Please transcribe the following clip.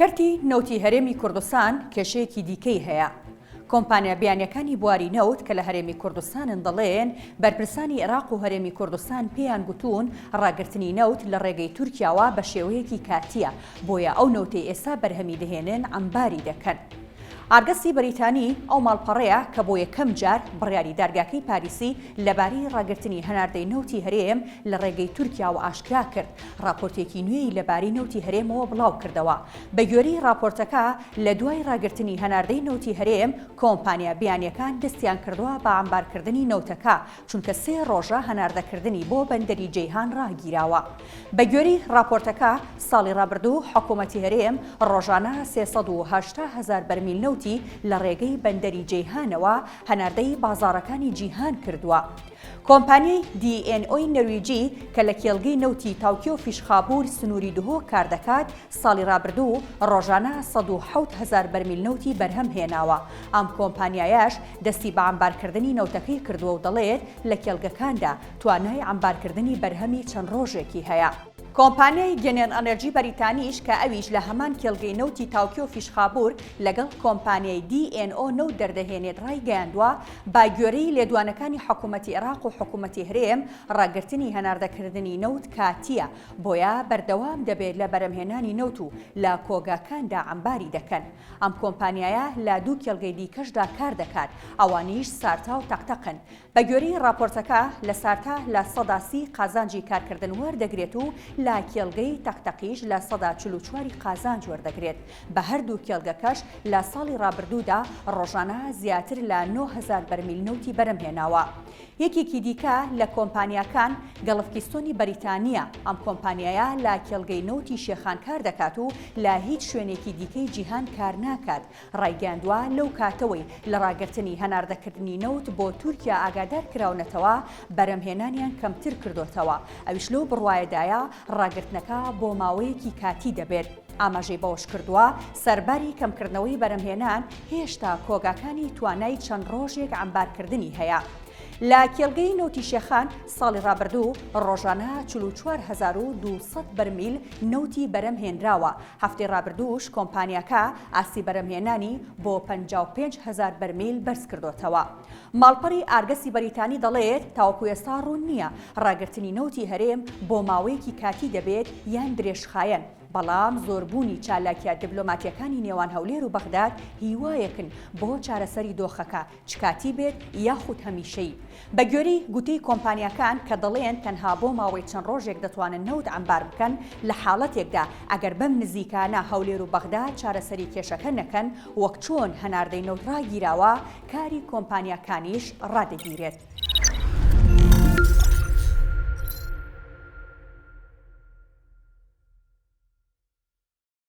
کەرتی نەوتی هەرێمی کوردستان کێشەیەکی دیکەی هەیە، کۆمپانیا بیانیەکانی بواری نەوت کە لە هەرێمی کوردستانن دەڵێن، بەرپرسانی عێراق و هەرێمی کوردستان پێیان گوتوون ڕاگرتنی نەوت لە ڕێگەی تورکیاوە بە شێوەیەکی کاتییە، بۆیە ئەو نەوتەی ئێستا بەرهەمی دەهێنن عەمباری دەکەن. ئارگەستی بەریتانی ئەو ماڵپەڕەیە کە بۆ یەکەم جار بڕیاری دادگاکەی پاریسی لەبارەی ڕاگرتنی هەناردەی نەوتی هەرێم لە ڕێگەی تورکیاوە ئاشکرا کرد، ڕاپۆرتێکی نوێی لەبارەی نەوتی هەرێمەوە بڵاوکردەوە، بەگوێرەی ڕاپۆرتەکە، لەدوای ڕاگرتنی هەناردەی نەوتی هەرێم، کۆمپانیا بیانییەکان دەستیانکردووە بە عەمبارکردنی نەوتەکە، چونکە سێ ڕۆژە هەناردەکردنی بۆ بەندەری جەیهان ڕاگیراوە. بەگوێرەی ڕاپۆرتەکە، ساڵی ڕابردوو حکومەتی هەرێم ڕۆژانە سێ سەد و هەشتا هەزار بەرمیل نەوتی لەڕێگەی بەندەری جەیهانەوە هەناردەی بازاڕەکانی جیهان کردووە. کۆمپانیای دی ئێن ئۆی نەرویجی کە لە کێڵگەی نەوتی تاوکیۆ فیشخابور سنووری دهۆک کاردەکات، ساڵی رابردوو رۆژانە سەد و حەوت هەزار بەرمیل نەوتی بەرهەم هێناوە، ئەم کۆمپانیایەش دەستی بە عەمبارکردنی نەوتەکەی کردووە و دەڵێت، لە کێڵگەکاندا توانای عەمبارکردنی بەرهەمی چەند رۆژێکی هەیە. کۆمپانیای گێنێل ئەنێرجی بەریتانیش کە ئەویش لە هەمان کێڵگەی نەوتی تاوکیۆ فیشخابور لەگەڵ کۆمپانیای دی ئێن ئۆ نەوت دەردەهێنێت رایگەیاندووە، بە گوێرەی لێدوانەکانی حکوومەتی عێراق و حکوومەتی هەرێم، ڕاگرتنی هەناردەکردنی نەوت کاتییە، بۆیە بەردەوام دەبێت لە بەرهەمهێنانی نەوت و لە کۆگاکاندا عەمباری دەکەن. ئەم کۆمپانیایە لە دوو کێڵگەی دیکەشدا کار دەکات، ئەوانیش سارتا و تەقتەقن. بە گوێرەی ڕاپۆرتەکە، لە سارتا لە سەدا سی قازانجی کارکردن وەردەگرێت و لە کێڵگەی تەقتەقیش لە سەدا چل و چواری قازانج وەردەگرێت. بە هەردوو کێڵگەکەش لە ساڵی ڕابردوودا ڕۆژانە زیاتر لە نۆ هەزار بەرمیل نەوتی بەرم هێناوە. یەکێکی دیکە لە کۆمپانیاکان گەڵف کیستۆنی بەریتانییە، ئەم کۆمپانیایە لە کێڵگەی نەوتی شێخان کار دەکات و لە هیچ شوێنێکی دیکەی جیهان کار ناکات، ڕایگەیاندوە لەو کاتەوەی لە ڕاگرتنی هەناردەکردنی نەوت بۆ تورکیا ئاگادار کراونەتەوە بەرم هێنانیان کەمتر کردۆتەوە، ئەویش لەو بڕوایەدایە ڕاگرتنەکە بۆ ماوەیەکی کاتی دەبێت. ئاماژەی بەوەشکردووە، سەرباری کەمکردنەوەی بەرهەمهێنان هێشتا کۆگاکانی توانای چەند ڕۆژێک عەمبارکردنی هەیە. لە کێڵگەی نەوتی شێخان ساڵی ڕابردوو ڕۆژانە 44200 بەرمیل نەوتی بەرەم هێنراوە، هەفتەی ڕابردووش کۆمپانیاکە ئاستی بەرەمهێنانی بۆ 55000 بەرمیل بەرزکردۆتەوە. ماڵپەڕی ئارگەسی بەریتانی دەڵێت تاوەکو ئێستا ڕوون نییە ڕاگرتنی نەوتی هەرێم بۆ ماوەیەکی کاتی دەبێت یان درێژخایەن، بەڵام زۆربوونی چالاکیە دبلۆماتیەکانی نێوان هەولێر و بەغداد هیوایەکن بۆ چارەسەری دۆخەکە چ کاتی بێت یاخود هەمیشەیی. بەگوێرەی گوتەی کۆمپانیاکان کە دەڵێن تەنها بۆ ماوەی چەند ڕۆژێک دەتوانن نەوت عەمبار بکەن لە حاڵەتێکدا ئەگەر بەم نزیکانە هەولێر و بەغداد چارەسەری کێشەکە نەکەن وەک چۆن هەناردەی نەوت ڕاگیراوە کاری کۆمپانیاکانیش ڕادەگیرێت.